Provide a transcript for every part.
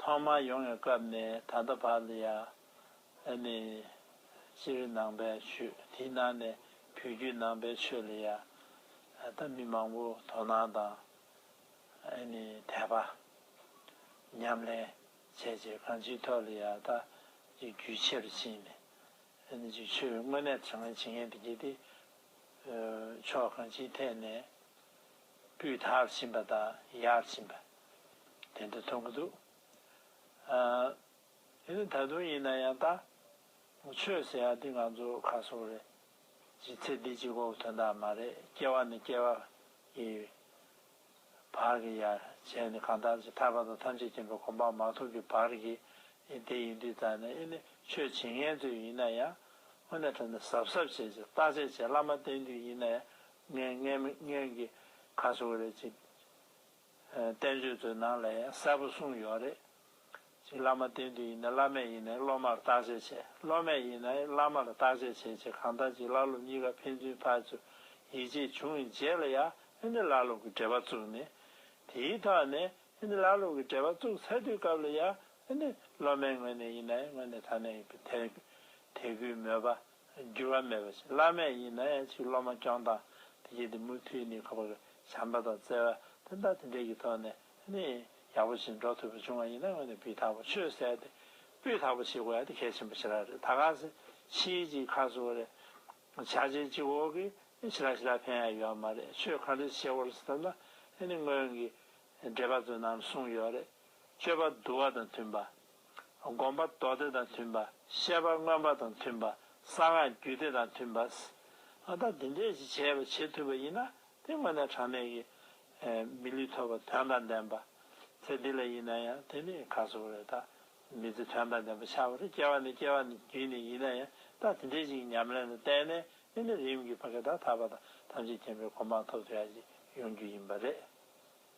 ཐོག་མར་ཡོང་བའི་སྐབས་ནས་ད་ལྟ་བར་དུ་ཡང་ཨ་ནི་སྤྱིར་རི་ནང་པའི་ཆོས་དེའི་ནང་ནས་བོད་བརྒྱུད་ནང་པའི་ཆོས་ལ་ཡང་ད་ལྟ་མི་མང་པོ་དོ་སྣང་དང་ཨ་ནི་དད་པ་ཉམས་ལེན་བྱས་རྗེས་གང་ཅིའི་ཐོག་ལ་ཡང་ད་ཅིག་རྒྱུས་ཆེ་རུ་ཕྱིན་ནས་ཨ་ནི་ཅིག་ཆོས་དངོས་གནས་དྲང་བཞིན་བྱེད་མཁན་དེ་གྱིས་ཏེ། ཕྱོགས་གང་ཅིའི་ཐད་ནས། སྤུས་དག་ཕྱིན་པ་དང་ཡག་ཕྱིན་པ་དེ་འདྲ་མཐོང་གི་འདུག་ཨང། དེ་ནི་ད་དུང་ཡིན་ན་ཡང་ལྟ། ཆོས་ཟེར་ཡག་འདི་ང་ཚོ་ཁ་སོང་རེད། ཅི་ཚེ་འདི་གཅིག་གོ་དོན་དག་མ་རེད་སྐྱེ་བ་ནི་སྐྱེ་བ་ཡི། བར་གྱི་ཡ་གྱལ་ནི་གང་ལྟར་ཅི་ཐར་པ་དང་ཐམས་ཅད་མཁྱེན་པའི་གོ་འཕང་མ་ཐོབ་ཀྱི་བར་གྱི་ཨེ་དེ་ཡིན་དུས་ཙང་ནས་ཨེ་ནི་ཆོས་བྱེད་ངན་དུས་ཡིན་ན་ཡང། དངོས་གནས་དྲན་ནས་གཟབ་གཟབ་བྱས་ཅིག་བརྟག་དཔྱད་བྱས་བླ་མ་བསྟེན་དུས་ཡིན་ན་ཡང་ངའི་མངལ་མི་མངལ་གྱི་ཁ་སོ་རེད་ཅེས་བསྟན་བཅོས་ཚོའི་ནང་ལ་ཡང་གསལ་པོ་གསུངས་ཡོད་རེད། ཅེས་བླ་མ་བསྟེན་དུས་ཡིན་ན་བླ་མས་ཡིན་ན་སློབ་མར་བརྟག་དཔྱད་བྱེད་སློབ་མས་ཡིན་ན་བླ་མར་བརྟག་དཔྱད་བྱེད་ཅེས་གང་ལྟར་གྱི་བླ་སློབ་གཉིས་ཀ་ཕན་ཚུན་བར་དུ་ཡིད་ཆེས་བྱུང་བའི་རྗེས་ལ་ཡང་ཨ་ནེ་བླ་སློབ་ཀྱི་འབྲེལ་བ་བཙུགས་ནས། དེའི་ཐོག་ནས་ཨ་ནེ་བླ་སློབ་ཀྱི་འབྲེལ་བ་བཙུགས་ཚར་དུས་སྐབས་ལ་ཡང་ཨ་ནེ་སློབ་མའི་ངོས་ནས་ཡིན་ན་ངོས་ནས་ད་ནས་དེ་དེ་གུས་མོས་པ་འགྱུར་བ་མེད་པ་ཞིག་བླ་མེད་ཡིན་ནས་ཆིག་སློབ་མ་སྐྱོང་སྟངས་དེ་བྱས་ཏེ་མུ་མཐུད་ནས་ཁ་བ་བྱམས་པ་དང་བརྩེ་བ་དེ་འདྲ་དེ་འདྲའི་གི་ཐོག་ནས་ནི་ཡག་པོ་ཞིག་འགྲོ་ཐུབ་པ་བྱུང་བ་ཡིན་ན་དངོས་ནས་སྤུས་དག་པོ་ཆོད་བསད་དེ་སྤུས་དག་པོ་བྱེད་དགོས་དེ་གལ་ཆེན་པོ་ཞེ་རག་རེད་ད་གང་ཟེ་ཕྱིའི་ཅིག་ཁ་གསོ་རེད་བྱ་བྱེད་གཅིག་འོག་གི་ཞི་རག་ཞི་རག་ཕན་ཡག་ཡོད་མ་རེད་ཆོས་གང་འདྲའི་ཆེ་བོར་བསད་ན་ནི་སྔོན་གི་འགྲེལ་པ་ཚོས་ནམ་གསུང་ཡོད་རེད། སྤྱོད་པ་བསྡུ་བ་དང་མཐུན་པ། སྒོམ་པ་མདོ་སྡེ་དང་མཐུན་པ། བཤད་པ་མངོན་པ་དང་མཐུན་པ། གསང་སྔགས་རྒྱུད་སྡེ་དང་མཐུན་པ། ཨ་ད་འདི་འདྲས་ཞིག་བྱས་པ་བྱེད་ཐུབ་པ་ཡིན་ན་དེ་དངོས་གནས་གྲངས་མེད་ཀྱི། མི་ལུས་ཐོབ་པ་དོན་དང་ལྡན་པ། ཚེ་འདི་ལ་ཡིན་ན་ཡང་དེ་ནི་ག་སོག་རེད་ད། མི་ཚེ་དོན་དང་ལྡན་པ་ཆགས་པ་རེད་སྐྱེ་བ་ནས་སྐྱེ་བ་ནས་རྒྱུད་ནས་ཡིན་ན་ཡང་ད་དེ་འདྲས་ཞིག་ཉམས་ལེན་ལ་བརྟེན་ནས་དེ་ནི་རིམ་གྱིས་བ་གེ་དང་ཐར་པ་དང་ཐམས་ཅད་མཁྱེན་པའི་གོ་འཕང་ཐོབ་ཐུབ་ཡག་ཅིག་ཡོང་རྒྱུ་ཡིན་པ་རེད།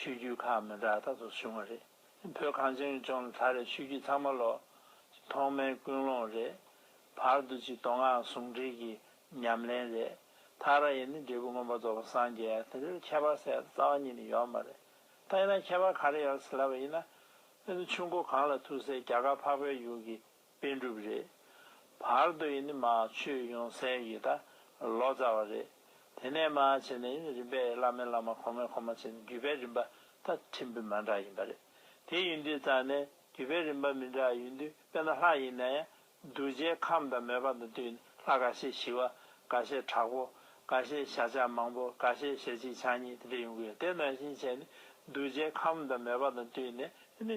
ཆོས་བརྒྱུད་ཁག་མི་འདྲ་རྟག་ཏུ་བྱུང་བ་རེད། བོད་གངས་ཅན་གྱི་ལྗོངས་ལ་ད་རེས་ཆོས་བརྒྱུད་ཚང་མ་ལོག། ཐོག་མའི་ཀུན་སློང་རེད། བར་དུ་གཅིག་མདོ་སྔགས་ཟུང་འབྲེལ་གྱི་ཉམས་ལེན་རེད། ཐག་ར་ཡི་ནི་འབྲས་བུ་མངོན་པར་རྫོགས་པ་སངས་རྒྱས་དེ་འདྲའི་ཁྱད་པར་གསལ་རྩ་བ་ཉིད་ནས་ཡོད་མ་རེད། ད་ཡིན་ན་ཁྱད་པར་ག་རེ་ཡོད་སླ་བ་ཡིན་ན། ཨེ་ནི་ཆུ་མགོ་གངས་ལ་ཐུག་སའི་རྒྱ་གར་འཕགས་པའི་ཡུལ་གྱི་པན་གྲུབ་རེད། བར་དོ་ཡི་ནི་མ་ཆོས་ཡོངས་གསལ་ཡི་ད་ལོ་ཙཱ་བ་རེད། དེ་ནས་མ་བྱས་ནས་ཡི་ནི་རིམ་པས་བླ་མའི་བླ་མ་གོང་མའི་གོང་མ་བྱས་ནས་བརྒྱུད་པའི་རིམ་པ་ད་ཕྲན་བུ་མ་འདྲ་ཡིན་པ་རེད། དེ་ཡིན་དུས་ཙཱ་ནས་བརྒྱུད་པའི་རིམ་པ་མི་འདྲ་ཡིན་དུས་དཔེར་ན་ལྷ་ཡིན་ན་ཡང་གདུལ་བྱའི་ཁམས་དང་མོས་པ་དང་བསྟུན་ནས་ལྷ་འགའ་ཤས་ཞི་བ་འགའ་ཤས་དྲག་པོ་འགའ་ཤས་ཞལ་ཕྱག་མང་པོ་འགའ་ཤས་ཞལ་གཅིག་ཕྱག་གཉིས་དེ་འདྲ་ཡོང་གི་ཡོད་དེ་ནང་བཞིན་བྱས་ནས་གདུལ་བྱའི་ཁམས་དང་མོས་པ་དང་བསྟུན་ནས་ཡི་ནི།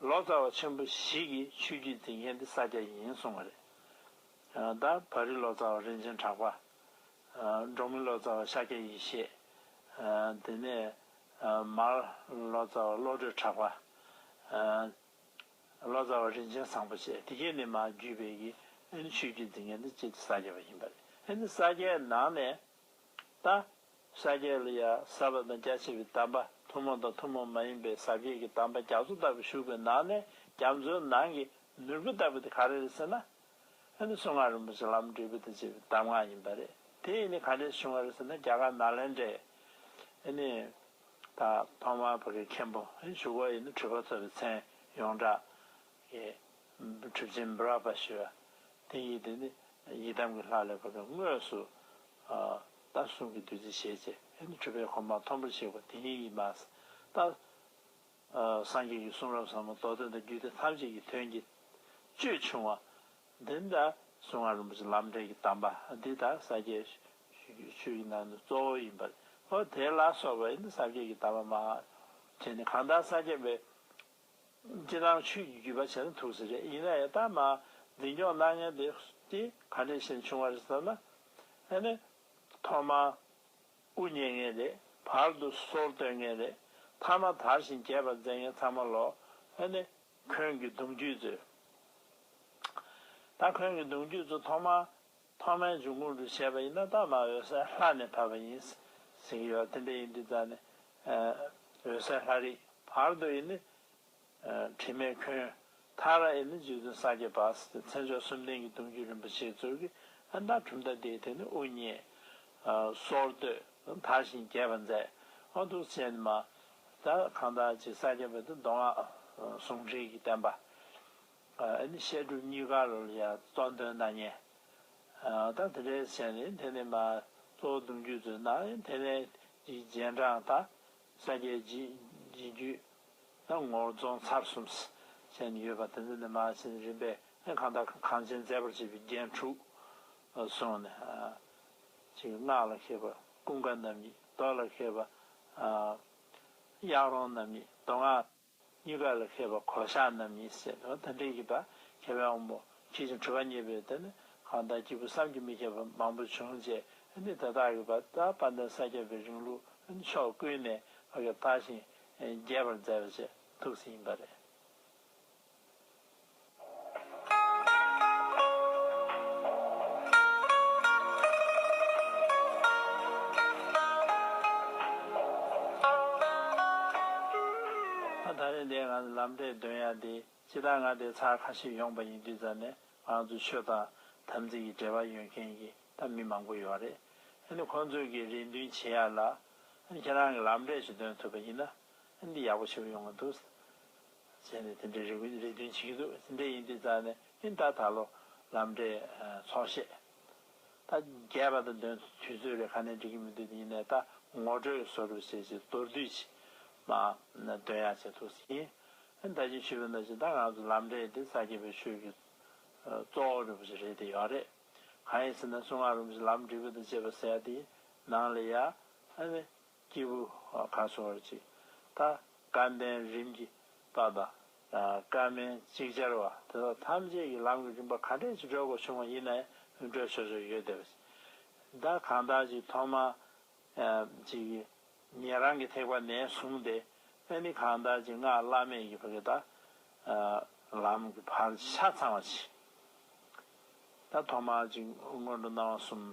ལོ་ཙཱ་བ་ཆེན་པོ་ཞིག་གིས་ཆོས་བརྒྱུད་འཛིན་མཁན་དེ་ས་སྐྱ་ཡིན་གསུངས་བ་རེད། ད་བར་རི་ལོ་ཙཱ་བ་རིན་ཆེན་གྲགས་པ། འབྲོག་མི་ལོ་ཙཱ་བ་ཤཱཀྱ་ཡེ་ཤེས། དེ་ནས་མར་ལོ་ཙཱ་བ་བློ་གྲོས་གྲགས་པ། ལོ་ཙཱ་བ་རིན་ཆེན་བཟང་པོ་བཅས་དེ་གས་ནི་མ་བརྒྱུད་པའི་ཆོས་བརྒྱུད་འཛིན་མཁན་དེ་སྤྱི་དེ་ས་སྐྱ་བ་ཡིན་པ་རེད། ཨེ་ནི་ས་སྐྱའི་ནང་ནས་ལྟ། ས་སྐྱའི་ལ་ཡ་ས་པ་དང་རྒྱ་ཆེ་བའི་དམ་པ་ཐུན་མོང་དང་ཐུན་མོང་མ་ཡིན་པའི་ཟབ་རྒྱས་ཀྱི་དམ་པ་རྒྱ་མཚོ་ལྟ་བུ་བཞུགས་པའི་ནང་ནས་རྒྱ་མཚོའི་ནང་གི་ནོར་བུ་ལྟ་བུ་དེ་ག་རེ་རེད་ཟེར་ན། ཨ་ནི་གསུང་ངག་རིན་པོ་ཆེ་ལམ་འབྲས་བུ་དང་བཅས་པའི་གདམས་ངག་ཡིན་པ་རེད་དེ་ཡིན་ནས་ག་འདྲའི་བྱུང་བ་རེད་ཟེར་ན་རྒྱ་གར་ནཱ་ལེནྡྲའི་ཨ་ནི། ད་ཕ་མ་བྷ་གའི་མཁན་པོ་ཨ་ནི་བཞུགས་པ་ཡིན་ན་འཁྲུལ་པ་ཚོལ་བའི་མཚན་ཡོངས་གྲགས། ཀྱི། གྲིབ་ཅན་བཱ་རཱ་པ་ཞེས་པ། དེ་ཡིས་དེ་ནི་ཡི་དམ་གྱི་ལྷ་ལས་བབས་པའི་དངོས་སུ། རྟ་བསྲུང་གི་བདུད་རྩི་བཞེས་བྱས། དེ་ནི་ཁྲོས་པའི་གོ་འཕང་མཐོན་པོར་གཤེགས་པ་དེ་ཉིད་ཡིན། མཱ་ཏཱ། སངས་རྒྱས་ཀྱི་གསུང་རབ་ཟབ་མོ་མདོ་དོན་དང་རྒྱུད་སྡེ་ཐམས་ཅད་ཀྱི་དོན་གྱི། ཅོད་ཆུང་བ། འདི་ལྟར་གསུང་ངག་རིན་པོ་ཆེ་ལམ་འབྲས་ཀྱི་གདམས་པ་འདི་དག་ས་སྐྱའི། ཆོས་ཀྱི་ནང་དུ་གཙོ་བོ་ཡིན་པ། དེ་ལ་སོགས་པའི་ས་སྐྱའི་གདམས་པ་མ། དེ་ནི་གང་དག་ས་སྐྱ་པའི། ཅི་སྣང་ཆོས་ཀྱི་བརྒྱུད་པ་བྱས་ན་ཐུགས་གསལ་རེད་ཡིན་ན་ཡང་རྟགས་མ་འཛིན་སྐྱོང་གནང་མཁན་དེ་དེ་ག་ནས་ཤེས་བྱུང་བ་རེད་བསམ་ན། ཨེ་ནས། ཐོག་མར་དབུ་བརྙེས་མཁན་རེད་བར་དུ་སོར་བཏོན་མཁན་རེད་མཐའ་མ་དར་བཞིན་རྒྱས་པར་མཛད་མཁན་ཚང་མ་ལོག་ཨེ་ནས། ཁོན་གྱི་གདུང་རྒྱུད་ཚོས། ད་ཁོན་གྱི་གདུང་རྒྱུད་ཚོ་ཐོག་མར། ཐོག་མའི་འབྱུང་ཁུངས་དུ་བྱས་པ་ཡིན་ན་རྟགས་མ་འོད་གསལ་ལྷ་ནས་བབས་པ་ཡིན། ཟེར་གྱི་ཡོད་དེ་འདྲ་ཡིན་དུས་རྩ་ནས། འོད་གསལ་ལྷ་རིགས་བར་དོ་ཡི་ནི། དྲི་མེད་ཁྱོད། ཐར་ར་ཡི་ནི་རྗེ་བཙུན་ས་སྐྱའི་བར། མཚན་མཆོག་གསུམ་ལྡན་གྱི་གདུང་རྒྱུད་རིན་པོ་ཆེའི་གཙོས་ཀྱི། མདའ་གྲུབ་མདའ་དེའི་དེ་ནི་དབུ་བརྙེས། སོར་བཏོད། དར་ཞིང་རྒྱས་པར་མཛད། ཨ་ཐུག་ཚེ་ནི་མ། གང་དག་ཅིག་ས་སྐྱ་པའི་དུ་མདོ་སྔགས། ཟུང་འབྲེལ་གྱི་བསྟན་པ། བཤད་སྒྲུབ་གཉིས་ཀ་ལ་ཡང་གཙོ་འདོན་གནང་ཉེན། ད་དེ་འདྲའི་ཟེར་ནས་དེ་ནི་མ་གཙོ་བོ་འདུམ་རྒྱུད་ཚོས་ནང་དེ་ནས་ཀྱི་རྗེས་འབྲང་དང་ས་སྐྱའི་རྗེས་རྒྱུད་ནང་ངོ་རྫོང་ཚར་གསུམ་བཅས་ནི་ཡོད་པ་དེ་ཚོ་ནི་མ་ཕྱིན་རིམ་པས་གང་དང་གང་ཅན་མཛད་པར་བྱས་པའི་རྒྱན་དྲུག་གསུངས་ནས། གཅིག་སྔགས་ལ་མཁས་པ་ཀུན་དགའ་རྣམ་གཉིས་རྡོ་ལ་མཁས་པ་གཡག་རོང་རྣམ་གཉིས་རྡོ་སྔགས། གཉིས་ཀ་ལ་མཁས་པ་གོ་ཆ་རྣམས་ཡིན་ཟེར་ནོ་ད་འགྲེལ་གྱིས་པ་མཁས་པའི་དབང་པོ་ཇི་བཞིན་འཁྲུལ་བ་རྙེད་པའི་དོན་ནི་གང་དག་སྐྱེས་བུ་བསམ་གྱིས་མི་ཁྱབ་པ་མང་པོ་བྱུང་རྗེས་ནི་ད་ལྟར་གྱི་བར་དག་དཔལ་ལྡན་ས་སྐྱ་པའི་རིང་ལུགས་ནི་ཕྱོགས་ཀུན་ནས་བགེགས་དག་ཞིང་རྒྱས་པར་མཛད་པ་བཅས་ཐུགས་བསིལ་ཡིན་པ་རེད། ད་རེས་འདས་ང་ལམ་འབྲས་འདོན་ཡ་དེ་ཅི་ད་ང་དེ་ཚར་ཁ་ཤས་ཡོང་པ་ཡིན་དུས་ཙར་ནས་ང་ཚོ་ཆོས་དང་དམ་ཚིག་གི་འབྲེལ་བ་ཡོད་མཁན་གྱི་ད་མི་མང་པོ་ཡོད་རེད་འདི་ཁོང་ཚོས་གི་རེ་འདུན་བྱེད་ཡ་ལ་ཁྱེད་རང་གི་ལམ་འབྲས་ཞིག་འདོན་ཐུབ་པ་ཡིན་ན་འདི་ཡག་པོ་ཆེ་པོ་ཡོང་གི་འདུག། ཟེར་ནས་དེ་འདྲའི་རེ་བའི་རེ་འདུན་བྱེད་ཀྱི་འདུག་ཟིན་བྲིས་ཡིན་དུས་བཙལ་ནས་ཨིན་ད་ད་ལོ་ལམ་འབྲས་ཚོགས་བཤད། ད་རྒྱས་པ་དང་འདོན་དུས་ཚོད་རེ་ཁ་ནས་འགྲིག་གི་མི་འདུག་དེ་ཡིན་ནའི་ད་ངོ་སྤྲོད་བཟོ་སྒྲུབ་བྱས་ཚེ་མདོར་བསྡུས་ཆེད་མ་འདོན་ཡག་བྱེད་ཐུགས་ཟིན། ཨིན་ད་ཅིག་ཤོད་པའི་ན་ཅིག་ད་ང་ཚོ་ལམ་འབྲས་དེ་ས་སྐྱེས་པའི་ཆོས་ཀྱི་གཙོ་བོ་རེད་པོ་ཞིག་རེད་དེ་ཡོད་རེད། གང་ཡིན་ཟེར་ན་སུ་ང་རུམ་ཞིག་ལམ་འབྲས་བུ་དང་བཅས་པ་ཟེར་ཡ་དེའི་ནང་ལས་ཡ། སྐྱེས་བུ་གང་གསོ་བར་བྱེད། ད་ཀ་འདན་རིམ་གྱིས་དང་ད་ཀ་མན་ཅིག་ཅར་བ་དེ་དག་ཐམས་ཅད་ཀྱི་ལམ་གྱི་རིམ་པ་ག་འདྲས་ཀྱི་སྒྲོས་དགོས་བྱུང་བ་ཡིན་ནའི་སྒྲོས་སོ་སོར་ཡོད་དེ། ད་གང་དག་ཅིག་ཐོག་མ་ཅིག་གི་ཉན་རང་གི་ཐེག་པ་ནས་བཟུང་སྟེ་ཨ་ནི་གང་དག་ཅིག་སྔགས་བླ་མེད་ཀྱི་བར་གྱི་ད་ལམ་གྱི་བར་གྱི་ཆ་ཚང་བ་ཇི། ད་ཐོག་མ་ཅིག་སྔོན་འགྲོ་སྣང་བ་གསུམ།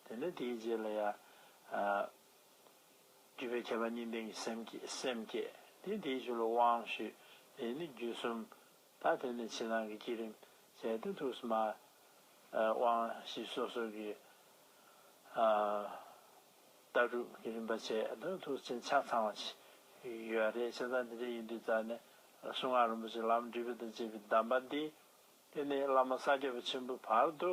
དེ་ནས་དེའི་རྗེས་ལ་ཡང། བརྒྱུད་པའི་ཁྱད་པར་གཉིས་ལྡན་གྱི་སེམས་བསྐྱེད་སེམས་བསྐྱེད་དེ་དེའི་ཕྱིར་ལོ་དབང་ཞུས། དེ་ནི་རྒྱུད་གསུམ། ད་དེ་ནས་ཕྱི་ནང་གི་བསྐྱེད་རིམ་བྱས་ཏེ་ཐུགས་སུ་མ། དབང་བཞི་སོ་སོ་གི། ལྟ་གྲུབ་ཀྱི་རིམ་པ་བྱས་དང་ཐུགས་བྱིན་ཆགས་ཚང་བ་བྱས། ཡོད་རེད་བྱས་ཙང་དེ་འདྲ་ཡིན་དུས་རྩ་ནས་གསུང་ངག་རིན་པོ་ཆེ་ལམ་འབྲས་བུ་དང་བཅས་པའི་གདམས་པ་འདི། དེ་ནས་བླ་མ་ས་སྐྱ་པ་ཆེན་པོའི་བར་དུ།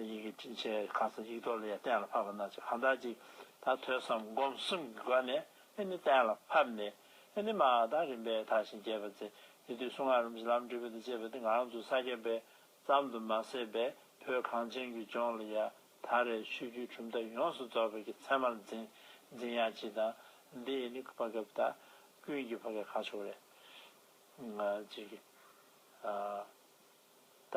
ཡི་གེ་བྲིས་བྱས་གང་ཚེ་ཡིག་ཐོག་ལ་ཡང་གཏན་ལ་ཕབ་པ་ན་ཅི་གང་དག་ཅིག་ད་ཐོས་སམ་སྒོམ་གསུམ་གྱི་སྒོ་ནས་ཨེ་ནི་གཏན་ལ་ཕབ་ནས་ཨེ་ནི་མ་དང་རིམ་པས་དག་ཞིང་རྒྱས་པ་ཚེ་དེ་དུས་སུ་ངག་རིམ་གྱི་ལམ་འབྲས་བུ་དང་བཅས་པ་འདི་འང་ཚུ་ས་བརྒྱད་པའི་ཙམ་དུ་མ་ཟད་པའི་བོད་གངས་ཅན་གྱི་ལྗོངས་ལ་ཡང་ད་རེས་ཆོས་བརྒྱུད་གྲུབ་མཐའ་ཡོངས་སུ་རྫོགས་པའི་གི་མཚན་མར་འཛིན་འཛིན་ཡང་ཅི་དང་འདི་ཨེ་ནི་ཀུན་ཕ་གབ་དང་ཀུན་གྱི་ཕ་གའི་ཁ་ཕྱོགས་རེད། ཅིག། ད།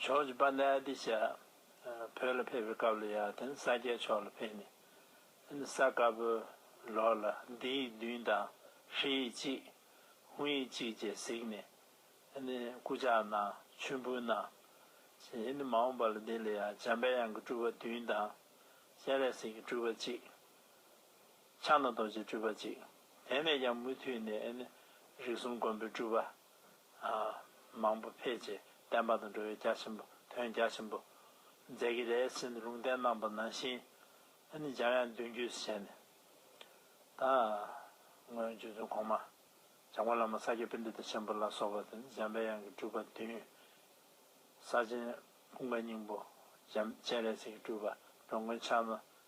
ཕྱོགས་ཀྱི་པཱ་ནཱ་ཏི་བྱ། བོད་ལ་ཕེབས་པའི་སྐབས་ལ་ཡང་དེ་ནི་ས་སྐྱའི་ཕྱོགས་ལ་ཕེབས་ནས། དེ་ནི་ས་དཀར་པོའི་ལོགས་ལ་འདི་ཡིག་བདུན་དང་ཧྲི་ཡིག་གཅིག། ཧུང་ཡིག་གཅིག་ཅེས་གཟིགས་ནས། དེ་ནི་སྐུ་ཕྱག་ན་ཆུན་པོའི་ནང། ཞེས་དེ་ནི་མ་འོངས་པ་ལ་འདི་ལ་ཡང་འཇམ་དཔལ་དབྱངས་ཀྱི་སྤྲུལ་པ་བདུན་དང། སྤྱན་རས་གཟིགས་ཀྱི་སྤྲུལ་པ་གཅིག། ཕྱག་ན་རྡོ་རྗེའི་སྤྲུལ་པ་གཅིག། དེ་ནས་ཀྱང་མུ་མཐུད་ནས། རིགས་གསུམ་མགོན་པོའི་སྤྲུལ་པ། མང་པོ་འཕེལ་ཅིང་བརྟན་པ་དང་འགྲོ་བའི་རྒྱ་ཆེན་པོ་དོན་རྒྱ་ཆེན་པོ་མཛད་ཀྱི་ལས་ཟིན་ཏུ་ལུང་བསྟན་རྣམ་པ་ནང་བཞིན་ནི་འཇམ་དབྱངས་བདུན་བརྒྱུད་བྱས་ནས་དང། སྔོན་རྗེ་བཙུན་གོང་མ་བྱང་སྒོ་བླ་མ་ས་སྐྱའི་པཎྜི་ཏ་ཆེན་པོ་ལ་སོགས་པ་དང་འཇམ་པའི་དབྱངས་ཀྱི་སྤྲུལ་པ་བདུན། ས་ཆེན་སྤུངས་པ་སྙིང་པོ་སྤྱན་རས་གཟིགས་ཀྱི་སྤྲུལ་པ་འགྲོ་མགོན་ཕྱག་ན་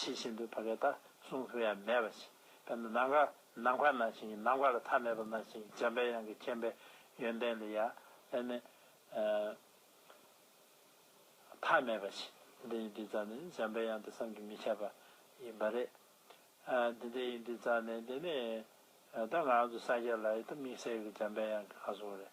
ཕྱི་བཞིན་དུ་བབས་པའི་ལྟ་སྲུང་ལྷུན་ཡང་མེད་པ་བཞིན་དཔེར་ན་ནམ་མཁའ་ནམ་མཁའ་ན་བཞིན་ནམ་མཁའ་ལ་མཐའ་མེད་པ་ན་བཞིན་འཇམ་པའི་དབྱངས་ཀྱི་མཁྱེན་པའི་ཡོན་ཏན་ལ་ཡང་དཔེར་ན་མཐའ་མེད་པ་བཞིན་འདི་ཡི་འདི་ཙམ་ནི་འཇམ་པའི་དབྱངས་དེ་བསམ་གྱིས་མི་ཁྱབ་པ་ཡིན་པ་རེད། འདི་འདི་ཡི་འདི་ཙམ་ནི་འདི་ནི་ད་ང་ཚོ་སངས་རྒྱས་ལ་ཡི་དམིགས་བསལ་གྱི་འཇམ་པའི་དབྱངས་ཀྱི་ལྷ་སྲུང་རེད།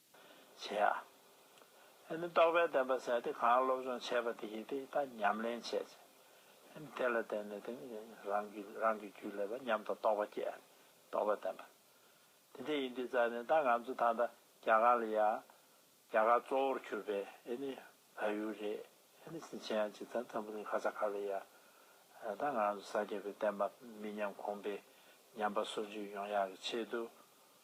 བྱེད་ཨ། ཨེ་ནི་རྟོགས་པའི་བདེན་པ་ཟད་དེ་གང་སློབ་སྦྱོང་བྱས་པ་དེ་ཡིས་དེ་ད་ཉམས་ལེན་བྱས་ཚེ། ཨེ་ནི་དེ་ལ་བརྟེན་ནས་དེ་ནི་རང་གི་རང་གི་རྒྱུད་ལས་པ་ཉམས་དང་རྟོགས་པ་སྐྱེ་ཨ་ནི་རྟོགས་པའི་བདེན་པ། དེ་དེ་ཡིན་དུས་རྩ་ནས་ད་ང་ཚོ་ད་ལྟ་རྒྱ་གར་ལ་ཡ། རྒྱ་གར་གཙོ་བོར་གྱུར་པའི་ཨེ་ནི་ད་ཡུལ་རེད་ཨེ་ནི་སིན་ཆན་ཡང་ཇི་ཙམ་ཙམ་པོ་ནི་ཁ་ཚ་ཁ་ལ་ཡ། ད་ང་ཚོ་ས་སྐྱེས་པའི་བསྟན་པ་མི་ཉམས་གོང་འཕེལ་ཉམས་པ་སོར་འཇུག་ཡོང་ཡག་གི་ཆེད་དུ།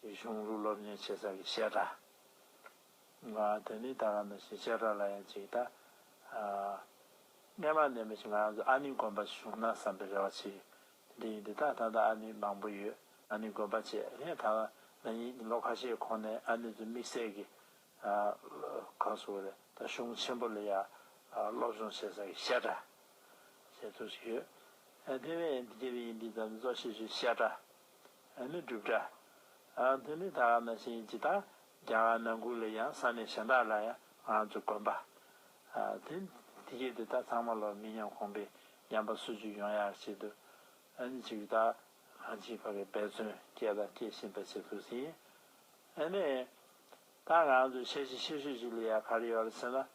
ཞེས་གཞུང་ལུགས་སློབ་གཉེར་བྱེད་ས་ཀྱི་བཤད་གྲྭ། དེ་ནི་ད་ག་ནས་ཞེས་བཤད་གྲྭ་ལ་ཡང་ཅིག་ལྟ། སྔས་མ་ནས་མི་ཞིག་ང་རང་ཚོ་ཨ་ནི་དགོན་པ་ཞིག་ཞུགས་ན་བསམ་པའི་རེ་བ་ཆེ། འདི་ཡིན་འདི་དག་ད་ལྟ་ཨ་ནི་མང་པོ་ཡོད། ཨ་ནི་དགོན་པ་བཅས་ངས་ད་ང་ཉིད་ལོ་ཁ་ཤས་གོང་ནས་ཨ་ནི་ཚོའི་དམིགས་བསལ་གྱི། གང་ཟུག་རེད་ད་གཞུང་ཆེན་པོ་ལ་ཡང་སློབ་སྦྱོང་བྱེད་ས་ཀྱི་བཤད་གྲྭ། ཞེས་ཐུགས་ཞིག་ཡོད། དེ་བས་འདི་ཡིན་འདི་ཡིན་ཙམ་ནས་གཙོ་ཤེས་ཤིག་བཤད་གྲྭ། ཨ་ནི་སྒྲུབ་གྲྭ། ཨ་ནི་ནི་ད་ག་ན་བཞིན་ཇི་ལྟར་རྒྱ་གར་ནང་ཁུལ་ལ་ཡང་ས་གནས་གཞན་དག་ལ་ཡང་ང་ཚོ་དགོན་པ། དེ་དེ་གེ་དེ་དག་ཚང་མ་ལོ་མི་ཉམས་གོང་པའི་ཉམས་པ་སུ་ཅུ་ཡོང་ཡག་བྱེད་དུ་ཨ་ནི་ཅིག་ད་གང་ཅིག་བ་གི་འབད་བརྩོན་སྐྱེས་དང་སྐྱེ་བཞིན་པ་ཞིག་འདུག་ཟིན་ཨ་ནི། ད་ང་ཚོ་ཤེས་བྱེད་ཤེས་ཤོས་ཅིག་ལ་ཡ་ག་རེ་ཡོད་ལ་ཟེར་ན།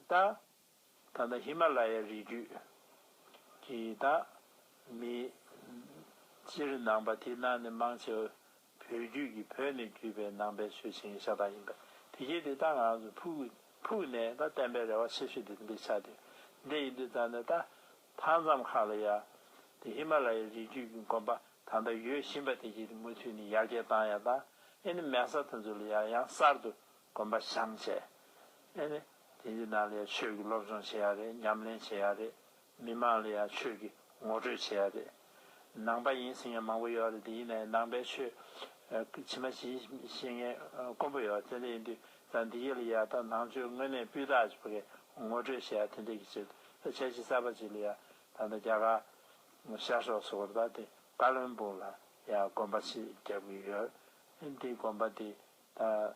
ད། ད་ལྟ་ཧི་མ་ལ་ཡའི་རི་རྒྱུད་ཀྱི་དང། མི། སྤྱིར་ནང་པ་དེ་རྣམས་ནི་མང་ཆེ་བ་བོད་རྒྱུད་ཀྱི་བོད་ནས་བརྒྱུད་པའི་ནང་པའི་ཆོས་བྱེད་ཤ་སྟག་ཡིན་པས་དེ་རྒྱུད་དེ་དག་ངང་དུ་ཕུགས་ནས་ད་བསྟན་པའི་རེ་བ་ཆེ་ཤོས་དེ་འདི་ཆགས་དུས་འདི་ཡིན་དུས་རྩ་ནས་ད་མཐའ་མཚམས་ཁག་ལ་ཡ། དེ་ཧི་མ་ལ་ཡའི་རི་རྒྱུད་ཀྱི་དགོན་པ་ད་ལྟ་ཡོད་བཞིན་པ་དེ་རྒྱུད་དེ་མུ་མཐུད་ནས་ཡར་རྒྱས་བཏང་ཡ་དང་ཨེ་ནི་མལ་ས་དེ་ཚོ་ལ་ཡར་ཡང་གསར་དུ་དགོན་པ་བཞེངས་བྱས་ཨེ་ནི། དེ་ཡི་ནང་ལ་ཡང་ཆོས་ཀྱི་སློབ་སྦྱོང་བྱེད་ཡ་རེད་ཉམས་ལེན་བྱེད་ཡ་རེད། མི་མང་ལ་ཡང་ཆོས་ཀྱི་ངོ་སྤྲོད་བྱེད་ཡ་རེད། ནང་པ་ཡིན་ཟིན་ཡང་མང་པོ་ཡོད་རེད་དེ་ཡི་ནང་ཡང་ནང་པའི་ཆོས་ཕྱི་མ་ཞིག་ཤེས་མཁན་དཀོན་པོ་ཡོད་དེ་འདྲ་ཡིན་དུས་ད་འདི་ཡི་ལ་ཡ་ད་ནང་ཆོས་དངོས་གནས་སྤུས་དག་གི་བགད་ངོ་སྤྲོད་བྱེད་ཡ་དེ་འདྲ་གི་ཆེད་དུ་ད་ཆ་གཞི་གསར་པ་ཞིག་ལ་ཡ་ད་ད་རྒྱ་གར་ཤར་ཕྱོགས་སུ་གོར་དང་དེ་ཀ་ལོན་པུར་ལ་ཡ་དགོན་པ་ཞིག་རྒྱབ་གི་ཡོད་དེ་དགོན་པ་དེ་ད།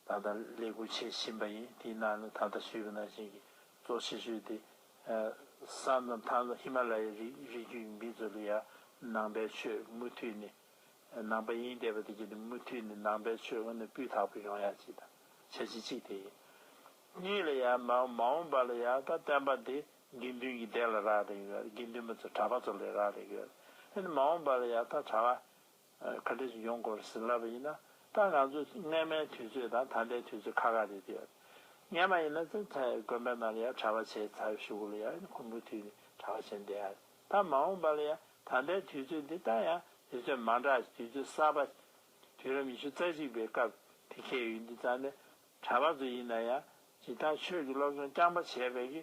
ད་ལྟ་ལས་ཁུར་བྱེད་བཞིན་པ་ཡིན་དེའི་ནང་ནས་ད་ལྟ་ཤོད་ཀྱི་ནང་བཞིན་གྱི་གཙོ་ཆེ་ཤོས་དེ་ས་མཚམས་ཐང་ལ་ཧི་མ་ལ་ཡའི་རིགས་རྒྱུད་ཡིན་པས་མཛོད་ལུ་ཡ་ནང་པའི་ཆོས་མུ་མཐུད་ནས་ནང་པ་ཡིན་བསྡད་པ་དེ་བརྒྱུད་ནས་མུ་མཐུད་ནས་ནང་པའི་ཆོས་དངོས་ནས་སྤུས་དག་པོ་ཡོང་ཡ་གཅིག་དང་བྱ་བྱེད་གཅིག་དེ་ཡིན། གཉིས་ལ་ཡ་མ་མ་འོངས་པ་ལ་ཡ་ད་བསྟན་པ་དེ་དགེ་འདུན་གྱི་སྡེ་ལ་རག་རེག་ཡོད་དགེ་འདུན་པ་ཚོ་གྲྭ་པ་ཚོ་ལས་རག་རེག་ཡོད་ཨེ་ནས་མ་འོངས་པ་ལ་ཡ་ད་གྲྭ་བ་ཁ་ལེ་ཞིག་ཡོང་དགོས་པར་ཟིན་ལབ་པ་ཡིན་ན་ད་ང་ཚོས་རྔན་མའི་དུས་ཚོད་དང་ད་ལྟའི་དུས་ཚོད་ཁ་ཁ་རེད་དེ། རྔན་མ་ཡིན་ན་ཚེ་ཚད་དགོན་པའི་ནང་ལ་ཡང་གྲྭ་བ་བྱས་ཚར་བཞུགས་གོ་ལ་ཡ་ཁུང་བུའི་དུས་ནས་གྲྭ་བ་བྱས་འདས་ཡ་ད་མ་འོངས་པ་ལ་ཡ་ད་ལྟའི་དུས་ཚོད་འདི་ད་ཡང་དུས་ཚོད་མ་འདྲ་དུས་ཚོད་གསར་པ། དུས་རབས་ཉི་ཤུ་རྩ་གཅིག་པའི་སྐབས་དེ་ཁེལ་ཡོད་འདི་ཙང་ནས་གྲྭ་བ་ཚོ་ཡིན་ན་ཡང་ཇི་ལྟར་ཆོས་ཀྱི་སློབ་སྦྱོང་རྐྱང་པ་བྱས་པས་ཀྱི།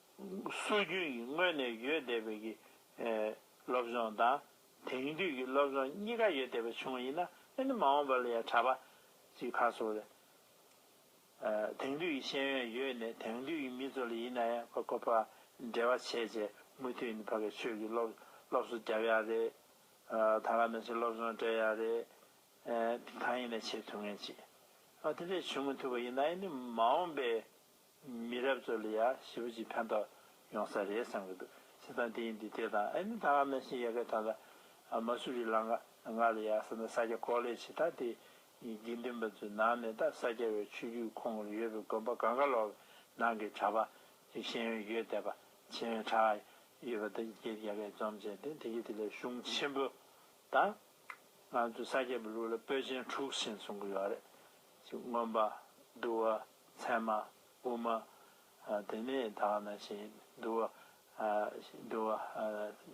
སྲོལ་རྒྱུན་གྱི་སྔོན་ནས་ཡོད་བསྡད་པའི་གི་སློབ་སྦྱོང་དང་དེང་དུས་ཀྱི་སློབ་སྦྱོང་གཉིས་ཀ་ཡོད་བསྡད་པའི་བྱུང་ཡིན་ན་ཨེ་ནི་མ་འོངས་པ་ལ་ཡང་གྲྭ་པ་ཚོའི་ཁ་སོ་རེད། དེང་དུས་ཀྱི་ཤེས་ཡོན་ཡོད་ནས་དེང་དུས་ཀྱི་མི་ཚོ་ལ་ཡིན་ན་ཡང་ཕ་གོ་ཕ་འདྲེ་བ་བྱས་བྱས་མུ་མཐུད་ནས་ཕ་གི་ཆོས་ཀྱི་སློབ་སློབ་གསོ་བརྒྱབ་ཡག་རེད། ད་ག་ནང་བཞིན་སློབ་སྦྱོང་སྤྲད་ཡག་རེད། གང་ཡིན་ན་བྱེད་ཐུབ་ངེས་ཅི། དེ་འདྲས་བྱུང་མི་ཐུབ་པ་ཡིན་ན་ཨེ་ནི་མ་འོངས་པའི་མི་རབས་ཚོ་ལ་ཡང་ཞི་བ་ཅིག་ཕན་ཐོག་ཡོང་ས་རེད་བསམ་གྱི་འདུག་བྱེད་སྟངས་དེ་ཡིན་དུས་དེ་དང་ཨ་མི་ད་ང་མེ་ཤིང་ཡ་གའི་ཐང་ད་མ་སུ་རི་ལང་གནག་ལ་ཡ་ས་ན་ས་སྐྱ་ཀོག་ལེ་བྱེད་སྟངས་དེ་དགེ་འདུན་པ་ཚོའི་ནང་ནས་ད་ས་སྐྱ་བའི་ཆོས་བརྒྱུད་ཁོངས་ཀྱི་ཡོད་པའི་དགོན་པ་གང་ག་ལོག་གི་ནང་གི་གྲྭ་པ་ཅིག་ཤེས་ཡོན་ཡོད་བསྡད་པ་ཆེན་ཡོན་གྲགས་ཡོད་པ་ད་ཀྱེ་ཡ་གའི་འཛོམས་བྱས་ཏེ་དེ་ཀྱེ་དེ་ལས་གཞུང་ཆེན་པོ་ད་ང་ཚོའི་ས་སྐྱ་པའི་ལུགས་ལ་པོད་ཆེན་དྲུག་ཟིན་སོང་གི་ཡོད་རེད་ཅིག་སྔོན་པ་བསྡུ་བ། མཚན་མ་དབུ་མ་དེ་ནས་དག་ན་ཞེས་བསྡུ་བ། བསྡུ་བ།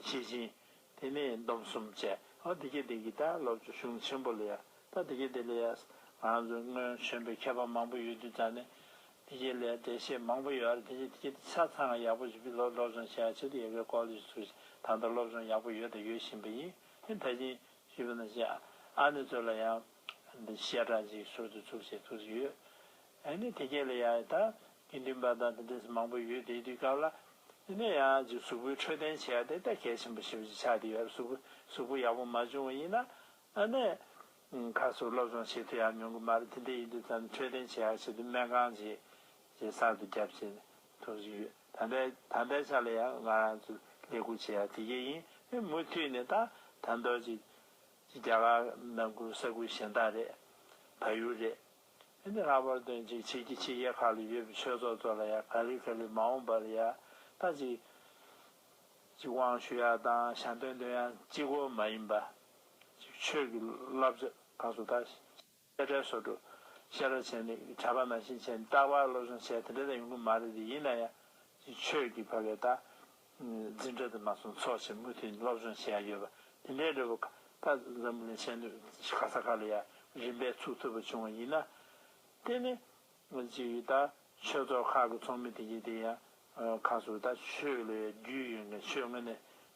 ཞེས་སྦྱིན། དེ་ནས་སྡོམ་གསུམ་བཅས། ཨོ་དེ་སྐད་དེ་གི་ད་སློབ་ཀྱི་གཞུང་ཆེན་པོ་ལ་ཡ། ད་དེ་སྐད་དེ་ལ་ཡས། ང་ཚོ་སྔོན་བྱོན་པའི་མཁས་པ་མང་པོ་ཡོད་དུས་ད་ནས་དེ་སྐད་ལ་ཡ་འགྲེལ་བཤད་མང་པོ་ཡོད་རེད་དེ་སྐད་དེ་ཆ་ཚང་ཡག་པོ་ཞིག་བི་ལོ་སློབ་སྦྱོང་བྱས་ཕྱིར་ཡས་གའི་ཀོ་ལེ་ཞིག་ཚུགས་ཤིག་ད་ལྟ་སློབ་སྦྱོང་ཡག་པོ་ཡོད་དང་ཡོད་བཞིན་པ་ཡིན་དེ་ད་ཕྱིན་ཞུས་པ་ན་ཞེས་ཨ་ནེ་ཚོ་ལ་ཡང། བཤད་གྲྭ་གཅིག་ཟུར་དུ་བཙུགས་བྱས་ཐུགས་ཡོད་ཨེ་ནི་དེ་གལ་ལ་ཡ་ད་དགེ་འདུན་པ་དང་དེ་འདྲས་མང་པོ་ཡོད་དེའི་དུས་སྐབས་ལ་དེ་ནས་ཡང་གཅིག་གཟུགས་པོའི་འཕྲོད་བསྟེན་བྱས་ཡ་དེ་ལྟ་གལ་ཆེན་པོ་ཞིག་བཞི་ཆ་དེ་ཡོད་རབས་གཟུགས་གཟུགས་པོ་ཡག་པོ་མ་བྱུང་བ་ཡིན་ན་ཨ་ནས་ཁ་སུ་སློབ་སྦྱོང་བྱེད་ཐུབ་ཡག་མྱོང་གི་མ་རེད་དེ་འདྲས་ཡིན་དུས་ཙམ་འཕྲོད་བསྟེན་བྱས་ཡག་བྱེད་དུས་སྨན་ཁང་བྱས་བྱས་གསར་དུ་རྒྱབ་བྱས་ཐུགས་ཡོད་ད་ལྟ་ད་ལྟའི་ཆ་ལ་ཡང་ང་རང་ཚོས་ལས་ཁུར་བྱས་ཡ་དེ་གལ་ཡིན་ཨེ་མུ་མཐུད་ནས་ད་ད་འདོད་ཅིག། ཅི་རྒྱ་གར་ནང་ཁུལ་ས་ཁུལ་གཞན་དག་རེད། བལ་ཡུལ་རེད། ཨེ་འདི་ལྷག་པར་དོན་གཅིག་བྱེད་ཀྱི་ཕྱི་རྒྱལ་ཁག་ལ་ཡོད་པའི་ཆོས་ཚོགས་ཚོ་ལ་ཡང་ག་ལེར་ག་ལེར་མ་འོངས་པར་ཡང་ད་ཅིག་ཅིག་དབང་ཞུ་ཡག་དང་ཞལ་འདོན་འདོན་ཡག་ཅིག་གོ་མ་ཡིན་པ་ཅིག་ཆོས་ཀྱི་བསླབ་བྱ་ག་ཚོ་ད་དཔེ་ཁྲལ་སོགས་སྒྲུབ། བཤད་རོགས་བྱས་ནས་གྲྭ་པ་མ་ཤེས་མཁྱེན་རྟག་པར་སློབ་སྦྱོང་བྱས་དེ་འདྲ་ད་ཡོང་གི་མ་རེད་དེ་ཡིན་ན་ཡ། ཆོས་ཀྱི་བ་བའི་ད། འཛིན་གྲྭ་དུ་མ་སོང་ཚོགས་ཆེན་མུ་མཐུད་སློབ་སྦྱོང་བྱས་ཡ་ཡོད་པ་དེ་འདྲའི་འབྲས་བུ་ཁ་ད་འཛམ་བུ་ལན་ཆད་ནུས་ག་ས་ག་ལ་ཡ་རིམ་པས་ཚུགས་ཐུབ་པ་བྱུང་བ་ཡིན་ན། དེ་ནི། གཅིག་གིས་ད་ཆོས་ཚོགས་ཁག་གི་ཚོགས་མི་དེ་གཉིས་དེ་ཡང། ཁ་སུ་ད་ཆོས་ལ་ཡ་རྒྱུས་ཡོད་མཁན་ཆོས་ངོས་ནས་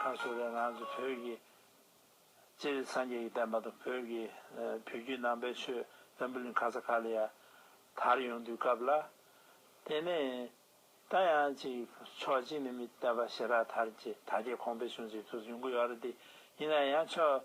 ཁ་བསོ་རས་ང་ཚོ་བོད་ཀྱི་སྤྱིར་སངས་རྒྱས་ཀྱི་བསྟན་པ་དང་བོད་ཀྱི་བོད་བརྒྱུད་ནང་པའི་ཆོས་བོན་པོ་ལིན་ག་ས་ག་ལ་ཡ་དར་ཡོང་དུས་སྐབས་ལ། དེ་ནས་ད་ཡང་ཅིག་ཕྱོགས་གཅིག་ནས་མི་བསྟད་པ་ཞེ་དྲག་དར་གྱི་དར་རྒྱས་གོང་འཕེལ་བྱུང་ཚུལ་ཐུགས་འཇུག་གི་ཡོད་རེད་དེ་ཡིན་ན་ཡང་ཕྱོགས་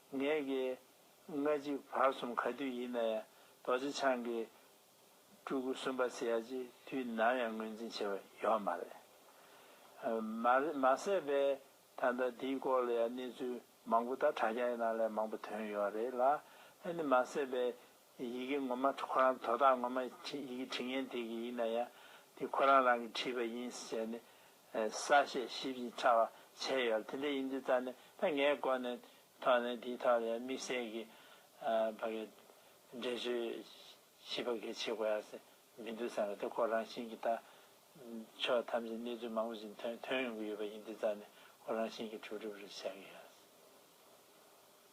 ངས་ཀྱི། ལྔ་གཅིག་བར་གསུམ་ག་དུས་ཡིན་ན་ཡང་རྡོ་རྗེ་འཆང་གི། སྤྲུལ་སྐུ་གསུམ་པ་ཚེ་ཡ་ཅེ་དུས་ནམ་ཡང་ངོས་འཛིན་བྱེད་པ་ཡོད་མ་རེད། མ་རེད་མ་ཟད་པས་ད་ལྟ་འདིའི་སྐོར་ལ་ཡང་གནས་ཚུལ་མང་པོ་ད་དྲ་རྒྱ་ཡི་ནང་ལས་མང་པོ་ཐོན་ཡོད་རེད་ལ། ཨ་ནི་མ་ཟད་པས་ཡི་གེ་ངོ་མ་ཁོ་རང་དོ་བདག་ངོ་མ་ཡི་གེ་དྲི་ངན་དེ་གི་ཡིན་ན་ཡང་དེ་ཁོ་རང་རང་གི་བྲིས་པ་ཡིན་ཟེར་ནས་ས་བཤད་ཞིབ་ཅིང་ཕྲ་བ་བྱས་ཡོད་དེ་འདྲ་ཡིན་དུས་རྩ་ནས་ད་ངའི་སྒོ་ནས་ཐོག་ནས་དེའི་ཐོག་ལ་ཡང་དམིགས་བསལ་གི་བ་གའི་འགྲེལ་བརྗོད་ཞིབ་པ་གས་བྱེད་དགོས་ཡ་ས་མི་འདུག་བསམ་པ་དེ་ཁོ་རང་བཞིན་གི་ད་ཕྱོགས་ཐམས་ཅད་གནས་ཚུལ་མང་པོ་ཞིག་ཐོན་ཐོན་ཡོང་གི་ཡོད་པ་ཡིན་དུས་རྩ་ནས་ཁོ་རང་བཞིན་གི་གྲུབ་གྲུབ་རེ་བྱ་གི་ཡ་ས།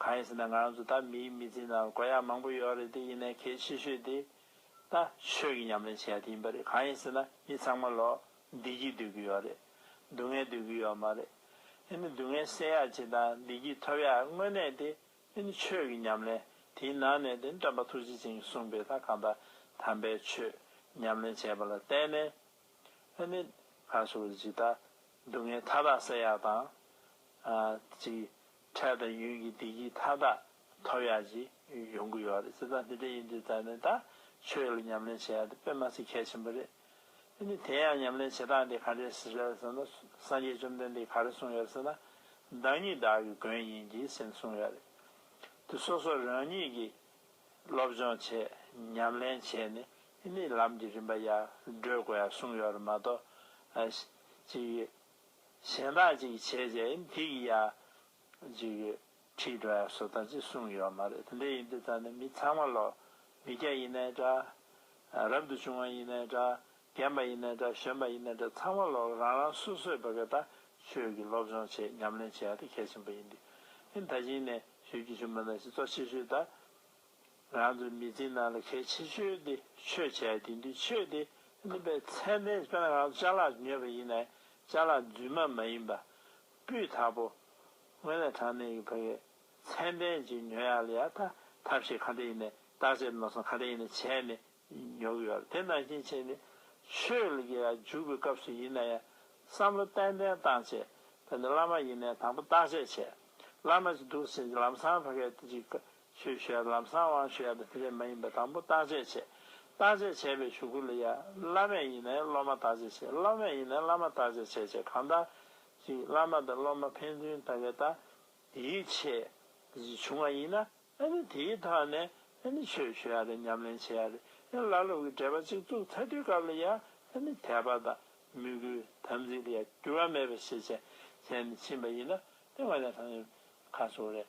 གང་ཡིན་ཟེར་ན་ང་རང་ཚོ་ད་མིའི་མི་ཚེའི་ནང་དཀོན་ཡག་མང་པོ་ཡོད་རེད་དེ་ཡིན་ནའི་གལ་ཆེ་ཤོས་དེ་ད་ཆོས་ཀྱི་ཉམས་ལེན་བྱེད་ཡག་དེ་ཡིན་པ་རེད་གང་ཡིན་ཟེར་ན་མི་ཚང་མ་ལོ་བདེ་སྐྱིད་སྡོད་ཀྱི་ཡོད་རེད་སྡུག་བསྔལ་སྡོད་ཀྱི་ཡོད་མ་རེད་ཨེ་ནི་སྡུག་བསྔལ་སེལ་ཡག་བྱེད་དང་བདེ་སྐྱིད་ཐོབ་ཡག་དངོས་གནས་དེ་ཨེ་ནི་ཆོས་ཀྱི་ཉམས་ལེན་དེའི་ནང་ནས་དེ་ནི་བཀྲམ་པ་ཐུགས་རྗེ་ཅན་གྱིས་གསུངས་པའི་ད་གང་ད་དམ་པའི་ཆོས་ཉམས་ལེན་བྱས་པ་ལ་བརྟེན་ནས་ཨེ་ནི་གང་ཞུ་བ་རེད་ཅིག་ད་སྡུག་བསྔལ་མཐའ་དག་སེལ་ཡག་དང། ཅིག། ཁྲལ་དང་ཡུན་གྱི་བདེ་སྐྱིད་མཐའ་དག་ཐོབ་ཡག་ཅིག་ཡོང་གི་ཡོད་རེད་སེམས་ཐག་འདི་འདྲ་ཡིན་དུས་ད་ནས་ད་ཆོས་ལ་ཉམས་ལེན་བྱེད་ཡག་འདི་དཔེ་མ་ཟད་གལ་ཆེན་པོ་རེད་དེ་ནི་དེ་ཡང་ཉམས་ལེན་བྱེད་སྟངས་དེ་ག་འདྲས་ཟེར་རེད་ཟེར་ན་སངས་རྒྱས་བཅོམ་ལྡན་འདས་ག་རེ་གསུངས་ཡོད་ཟེར་ན་བདག་ཉིད་བདག་གི་མགོན་ཡིན་གྱི་ཟེར་ནས་གསུངས་ཡོད་རེད་དེ་སོ་སོ་རང་ཉིད་ཀྱི་སློབ་སྦྱོང་བྱས་ཉམས་ལེན་བྱས་ནས་དེ་ནས་ལམ་གྱི་རིམ་པ་ཡར་བགྲོད་དགོས་ཡག་གསུངས་ཡོད་རེད་མ་གཏོགས་ཅི་ཡོད། གཞན་དག་ཅིག་བྱས་རྗེས་འདི་ཡི་ཡ། འཇུག་ཡོད་ཁྲིད་འགྲོ་ཡང་སོ་ཐར་ཅིག་གསུངས་ཡོད་མ་རེད་དེ་འདྲ་ཡིན་དུས་ད་ནི་མི་ཚང་མ་ལོ། མི་སྐྱ་ཡིན་ནའི་འདྲ། རབ་ཏུ་བྱུང་བ་ཡིན་ནའི་འདྲ། རྒན་པ་ཡིན་ནའི་འདྲ་གཞོན་པ་ཡིན་ནའི་འདྲ་ཚང་མ་ལོ་རང་རང་སོ་སོས་བོད་སྐད་དང་ཆོས་ཀྱི་སློབ་སྦྱོང་ཆེད་ཉམས་ལེན་བྱེད་ཡ་དེ་གལ་ཆེན་པོ་ཡིན་དུས། ད་གཞིན་ནས་ཞུ་རྒྱུ་ཞུ་མི་ནང་བཞིན་གཙོ་ཆེ་ཤོས་ད། རང་ཚོའི་མི་ཚེའི་ནང་ལ་གལ་ཆེ་ཤོས་དེ་ཆོས་བྱས་དེ་འདུས་ཆོས་དེ་སྨིན་པའི་མཚན་དཔེ་དཔེར་ན་རང་ཚོ་བཅའ་ལག་ཉོས་པ་ཡིན་ནའི་བཅའ་ལག་རྫུན་མ་མ་ཡིན་པ། སྤུས་དག་པོ། སྔོན་ལས་དྲང་གནས་ཡིན་པ་བས་མཚན་དཔེ་ཅིག་ཉོ་ཡག་ལ་ཡག་ཐ་ཐབས་ཤེས་ག་འདྲ་ཡིན་ནའི་བརྟག་དཔྱད་ནོར་སོང་ག་འདྲ་ཡིན་ནའི་བྱས་ནས་ཉོ་གི་ཡོད་ལ་དེ་ནང་རྐྱེན་ཆེ་ནི་ཆོས་ལ་གི་འཇུག་པའི་སྐབས་སུ་ཡིན་ན་ཡང་བསམ་བློ་ཏན་ཏན་བཏང་བྱས་དཔེར་ན་བླ་མ་ཡིན་ནའི་དང་པོ་བརྟག་དཔྱད་བྱས་བླ་མ་ཅིག་འདུག་ཟེར་ནས་ལམ་སང་བྷ་གའི་དེ་ཅིག་ཆོས་བཤད་ལམ་སང་དབང་ཞུ་ཡག་པོ་དེ་བས་མ་ཡིན་པ་དང་པོ་བརྟག་དཔྱད་བྱས། བརྟག་དཔྱད་བྱས་པའི་ཞུ་སྐུལ་ལ་ཡ། བླ་མས་ཡིན་ནས་སློབ་མ་བརྟག་དཔྱད་བྱེད་སློབ་མས་ཡིན་ནས་བླ་མ་བརྟག་དཔྱད་བྱེད་ཅེས་གང་ལྟར། གཅིག་བླ་མ་དང་སློབ་མ་ཕན་ཚུན་ལྟ་བའི་ལྟ། དེའི་ཆེད། བཞི་བྱུང་བ་ཡིན་ན། ཨ་ནི་དེའི་ཐག་ནས། ཨ་ནི་ཆོས་ཞུ་ཡག་རེད་ཉམས་ལེན་བྱེད་ཡག་རེད། ཨ་ལ་སློབ་ཀྱི་འབྲེལ་པ་གཅིག་བཙུགས་ཚ་དྲོད་སྐབས་ལ་ཡ། ཨ་ནི་དད་པ་དང། མོས་གུས་དམ་ཚིག་ལ་ཡ། འགྱུར་བ་མེད་པ་བྱེད་བྱས་ནས་ཕྱིན་པ་ཡིན་ན། དེ་ང་ཡང་ཐང་ཡོད། ཁ་སོ་རེད།